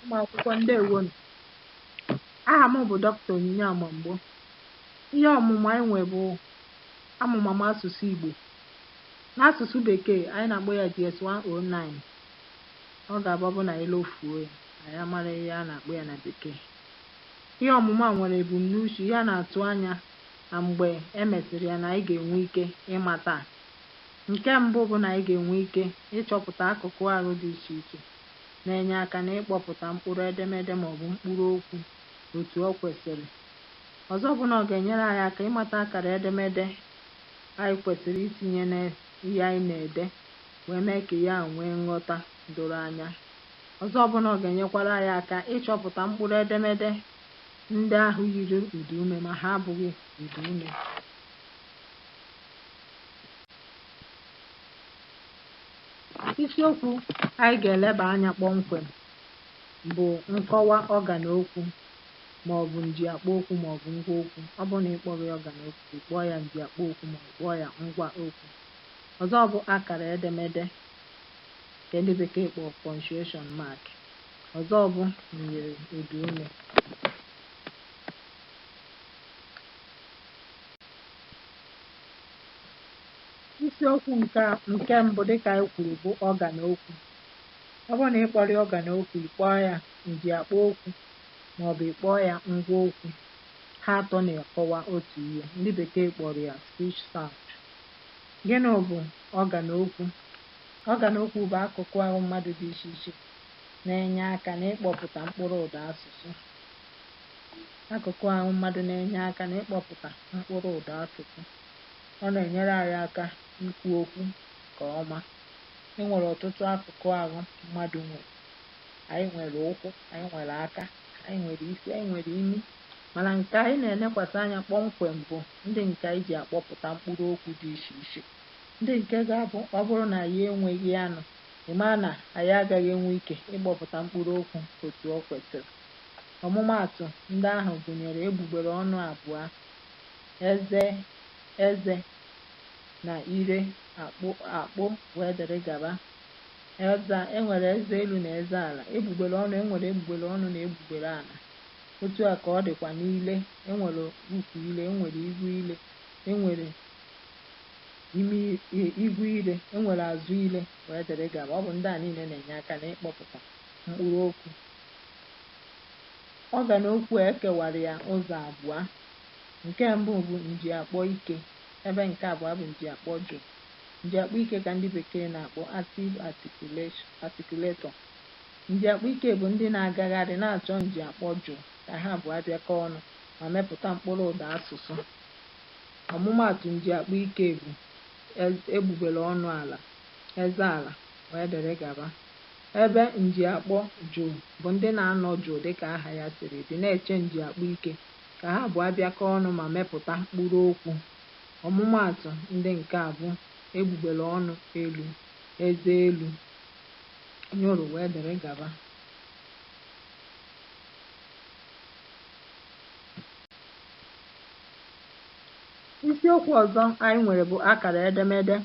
ụmụakwụkwọ ndewonu aha m bụ dọkịta onyinye amamgbo ihe ọmụmụ anyị nwe bụ amụmamụ asụsụ igbo n'asụsụ bekee anyị na-akpọ ya gs 109 ọ ga-abụ bụ na anyị lofuo ya anyị amara ihe a na-akpọ ya na bekee ihe ọmụmụ a nwere ebumnuche ihe a na-atụ anya na mgbe e mesịrị ya na anyị ga-enwe ike ịmata ha. Nke mbụ bụ na anyị ga-enwe ike ịchọpụta akụkụ arụ dị iche iche na-enye aka n'ịkpọpụta mkpụrụ edemede ma ọ bụ mkpụrụ okwu otu o kwesịrị. Ọzọ bụ na ọ ga-enyere anyị aka ịmata akara edemede anyị kwesịrị itinye n'ihe anyị na-ede wee mee ka ihe ahụ nwee nghọta doro anya. Ọzọ bụ na ọ ga-enyekwara anyị aka ịchọpụta mkpụrụ edemede ndị ahụ yiri ụdaume ma ha abụghị ụdaume. Isiokwu anyị ga-eleba anya kpọmkwem bụ nkọwa ọgan okwu ma ọ bụ njiakpọ okwu ma ọ bụ ngwa okwu. Ọ bụrụ na ị kpọghị ya ọgan okwu, ị kpọọ ya njiakpọ okwu ma ọ bụ kpọọ ya ngwa okwu. Ọzọ bụ akara edemede nke ndị bekee kpọrọ punctuation mark. Ọzọ bụ myiri ụdaume. Isiokwu nke nke mbụ dịka anyị kwuru bụ ọgan okwu. Ọ bụrụ na ị kpọrọ ya ọgan okwu, ị kpọọ ya njiakpọ okwu maọbụ ị kpọọ ya ngwa okwu, ha atọ na-akọwa otu ihe. Ndị bekee kpọrọ ya speech sound. Gịnị bụ ọgan okwu? Ọgan okwu bụ akụkụ ahụ mmadụ dị iche iche na-enye aka n'ịkpọpụta mkpụrụ ụda asụsụ. Akụkụ ahụ mmadụ na-enye aka n'ịkpọpụta mkpụrụ ụda asụsụ. Ọ na-enyere anyị aka ikwu okwu nke ọma. E nwere ọtụtụ akụkụ ahụ mmadụ nwere. Anyị nwere ụkwụ, anyị nwere aka, anyị nwere isi, anyị nwere imi. Mana nke anyị na-elekwasị anya kpọmkwem bụ ndị nke anyị ji akpọpụta mkpụrụ okwu dị iche iche, ndị nke ga-abụ ọ bụrụ na anyị enweghị ha nụ ị maa na anyị agaghị enwe ike ịkpọpụta mkpụrụ okwu otu o kwesịrị. Ọmụmaatụ ndị ahụ gụnyere egbugbere ọnụ abụọ, eze, eze, na ire, akpo, akpo, wee dịrị gaba. Eze, e nwere eze elu na eze ala. Egbugbere ọnụ, e nwere egbugbere ọnụ na egbugbere ala. Otu a ka ọ dịkwa n'ile, e nwere ukwu ile, e nwere iru ile, e nwere imi ihu ire, e nwere azụ ire wee dịrị gaba. Ọ bụ ndị a niile na-enye aka n'ịkpọpụta mkpụrụ okwu. Ọgan okwu a, e kewara ya ụzọ abụọ. Nke mbụ bụ njiakpọ ike ebe nke abụọ bụ njiakpọ jụụ. Njiakpọ ike ka ndị bekee na-akpọ active articulation articulator. Njiakpọ ike bụ ndị na-agagharị na-achọ njiakpọ jụụ ka ha abụọ bịakọọ ọnụ ma mepụta mkpụrụ ụda asụsụ. Ọmụmaatụ njiakpọ ike bụ, ez, egbugbere ọnụ ala, eze ala, wee dịrị gaba. Ebe njiakpọ jụụ bụ ndị na-anọ jụụ dị ka aha ya siri dị, na-eche njiakpọ ike ka ha abụọ bịakọọ ọnụ ma mepụta mkpụrụ okwu. Ọmụmaatụ ndị nke a bụ, egbugbere ọnụ elu, eze elu, nyụrụ, wee dịrị gaba. Isiokwu ọzọ anyị nwere bụ akara edemede.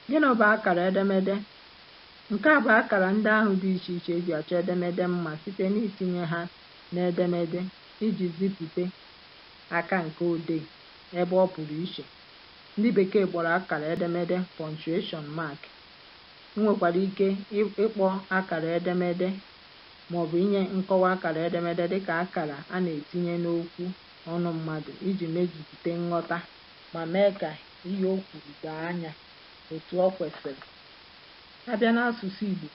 Gịnị bụ akara edemede? Nke a bụ akara ndị ahụ dị iche iche e ji achọ edemede mma site n'itinye ha n'edemede iji zipụta aka nka odee ebe ọ pụrụ iche. Ndị Bekee kpọrọ akara edemede punctuation mark. I nwekwara ike ịkpọ akara edemede ma ọ bụ inye nkọwa akara edemede dị ka akara a na-etinye n'okwu ọnụ mmadụ iji mejupụta nghọta ma mee ka ihe o kwuru doo anya otu o kwesịrị. A bịa n'asụsụ Igbo,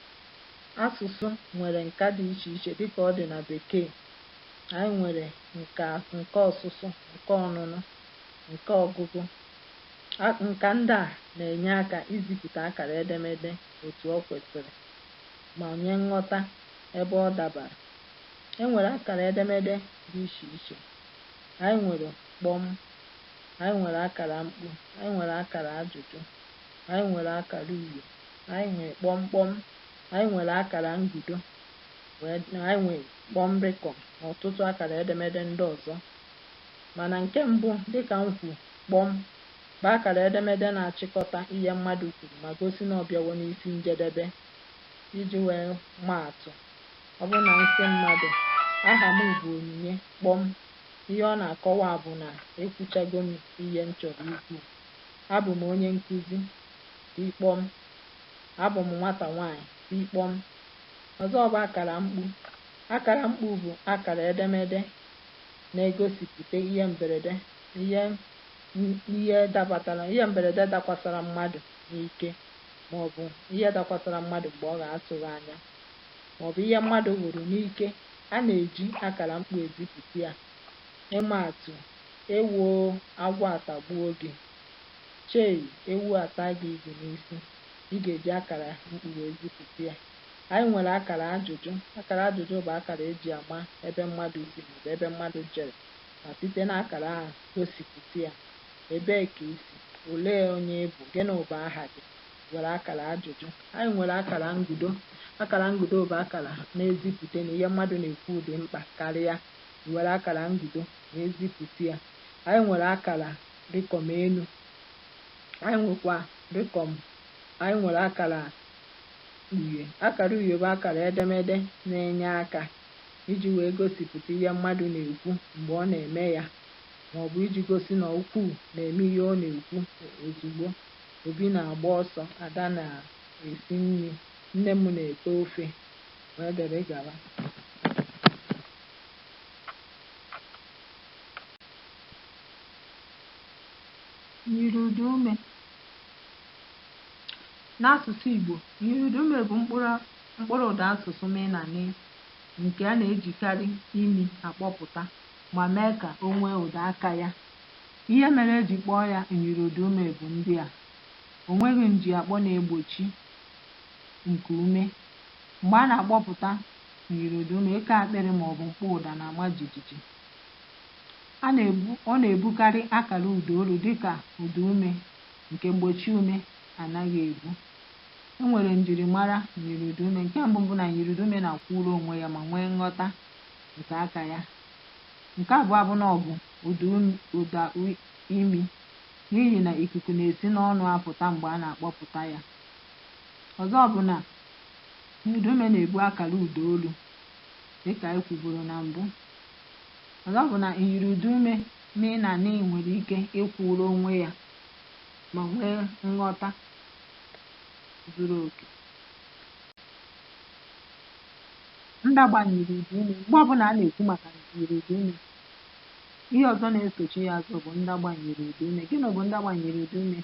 asụsụ nwere nka dị iche iche dị ka ọ dị na Bekee. Anyị nwere nka nka ọsụsụ, nka ọnụnụ, nka ọgụgụ. A Nka ndị a na-enye aka izipụta akara edemede otu o kwesịrị. ma nye nghọta ebe ọ dabara. E nwere akara edemede dị iche iche. Anyị nwere kpọm. Anyị nwere akara mkpu. Anyị nwere akara ajụjụ. Anyị nwere akara uhie. Anyị nwere kpọm kpọm. Anyị nwere akara ngudo. Wee na anyị nwere kpọm rịkọm na ọtụtụ akara edemede ndị ọzọ. Mana nke mbụ, dị ka m kwuru, kpọm, bụ akara edemede na-achịkọta ihe mmadụ kwuru ma gosi na ọ bịawo n'isi njedebe. Iji wee maa atụ, ọ bụrụ na m sị mmadụ, Aha m bụ Onyinye kpọm, ihe ọ na-akọwa bụ na ekwuchago m ihe m chọrọ ikwu. Abụ m onye nkụzi, tii kpọm. Abụ m nwata nwaanyị, tii kpọm. Ọzọ bụ akara mkpu. Akara mkpu bụ akara edemede na-egosipụta ihe mberede ihe ihe dabatara ihe mberede dakwasara mmadụ n'ike ma ọ bụ ihe dakwasara mmadụ mgbe ọ ga-atụghị anya, ma ọ bụ ihe mmadụ hụrụ n'ike, a na-eji akara mkpu ezipụta ya. Ịma atụ, Ewoo, agwọ atagbuo gị! Chei, ewu ataa gị igu n'isi! Ị ga-eji akara mkpu wee zipụta ya. Anyị nwere akara ajụjụ. Akara ajụjụ bụ akara e ji ama ebe mmadụ si ma ọ bụ ebe mmadụ jere ma site n'akara ahụ gosipụta ya. Ebee ka i si? Olee onye ị bụ? Gịnị bụ aha gị? I were akara ajụjụ. Anyị nwere akara ngudo. Akara ngudo bụ akara na-ezipụta na ihe mmadụ na-ekwu dị mkpa karịa. I were akara ngudo wee zipụta ya. Anyị nwere akara rịkọm elu. Anyị nwekwa rịkọm anyị nwere akara uhie. Akara uhie bụ akara edemede na-enye aka iji wee gosipụta ihe mmadụ na-ekwu mgbe ọ na-eme ya ma ọ bụ iji gosi na okwuu na-eme ihe ọ na-ekwu ozugbo. Obi na-agba ọsọ, Ada na-esi nri, nne m na-ete ofe, wee dịrị gawa. Myiriụdaume. N'asụsụ Igbo, myiriụdaume bụ mkpụrụ mkpụrụụdaasụsụ mị na nị nke a na-ejikarị imi akpọpụta. ma mee ka o nwee ụda aka ya. Ihe mere e ji kpọọ ya myiriụdaume bụ ndị a, O nweghị njiakpọ na-egbochi nku ume. Mgbe a na-akpọpụta myiriụdaume, eke akpịrị ma ọ bụ mkpọ ụda na-ama jijiji. A na-ebu, ọ na-ebukarị akara ụdaolu dị ka ụdaume nke mgbochiume anaghị ebu. E nwere njirimara myiriụdaume. Nke mbụ bụ na myiriụdaume na-akwụụrụ onwe ya ma nwee nghọta nke aka ya. Nke abụọ bụ na ọ bụ ụda ụda imi n'ihi na ikuku na-esi n'ọnụ apụta mgbe a na-akpọpụta ya. Ọzọ bụ na ụdaume na-ebu akara ụda olu dịka anyị kwuburu na mbụ. Ọzọ bụ na myiri ụdaume mị na nị nwere ike ịkwụrụ onwe ya ma nwee nghọta zuru oke. Ndagba myiri ụda ume. Mgbe ọbụla a na-ekwu maka myiri ụda ume. Ihe ọzọ na-esochi ya azụ bụ ndagba myiri ụda ume. Gịnị bụ ndagba myiri ụda ume?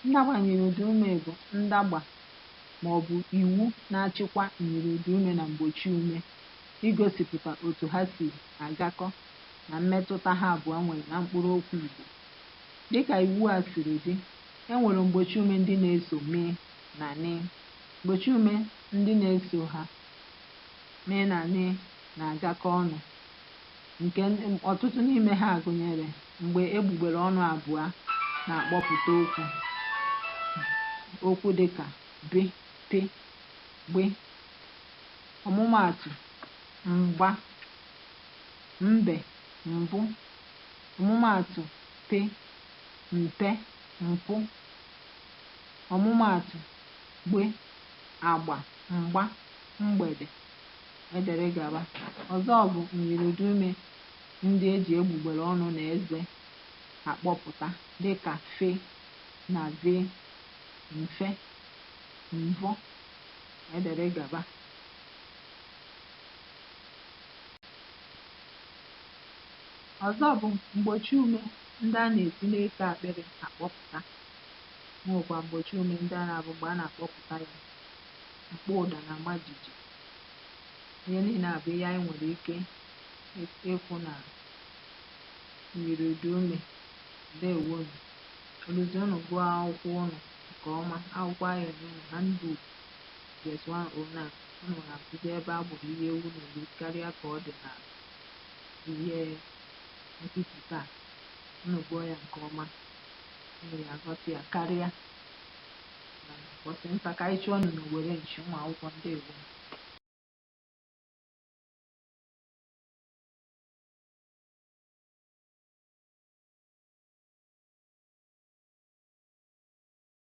Ndagba myiri ụda ume bụ ndagba ma ọ bụ iwu na-achịkwa myiri ụda ume na mgbochi ume igosipụta otu ha si agakọ na mmetụta ha abụọ nwere na mkpụrụ okwu Igbo. Dị ka iwu a siri dị, e nwere mgbochi ume ndị na-eso mị na nị. Mgbochi ume Ndị na-eso ha mị na nị na-agakọ ọnụ, nke ọtụtụ n'ime ha gụnyere mgbe egbugbere ọnụ abụọ na-akpọpụta okwu, okwu dị ka bị, pị, gbị. Ọmụmaatụ, mgba, mbe, mbụ. Ọmụmaatụ, pị, mpe, mpụ. Ọmụmaatụ. gbị, agba, mgba, mgbede, e dere gaba. Ọzọ bụ myiriụdaume ndị e ji egbugbere ọnụ na eze akpọpụta dị ka fe na ve, mfe, mvọ, e dere gaba. Ọzọ bụ mgbochiume ndị a na-esi n'eko akpịrị akpọpụta E nwekwara mgbochi ume ndị a na-abụ mgbe a na-akpọpụta ya, mkpọ ụda na-ama jiji. Ihe niile a bụ ihe anyị nwere ike ịfụ na myiri ụda ume. Ndewonu. Ọ bụzi unu gụọ akwụkwọ unu nke ọma, akwụkwọ anyị enye unu Handbook GS 109, unu ga-afụzi ebe a gbụrụ ihe ewu n'olu karịa ka ọ dị na ihe nkuzi taa. Unu gụọ ya nke ọma. unu ya-aghọta ya karịa na ụbọchị nta ka anyị chụọ unu n'owere nchi ụmụ akwụkwọ ndewo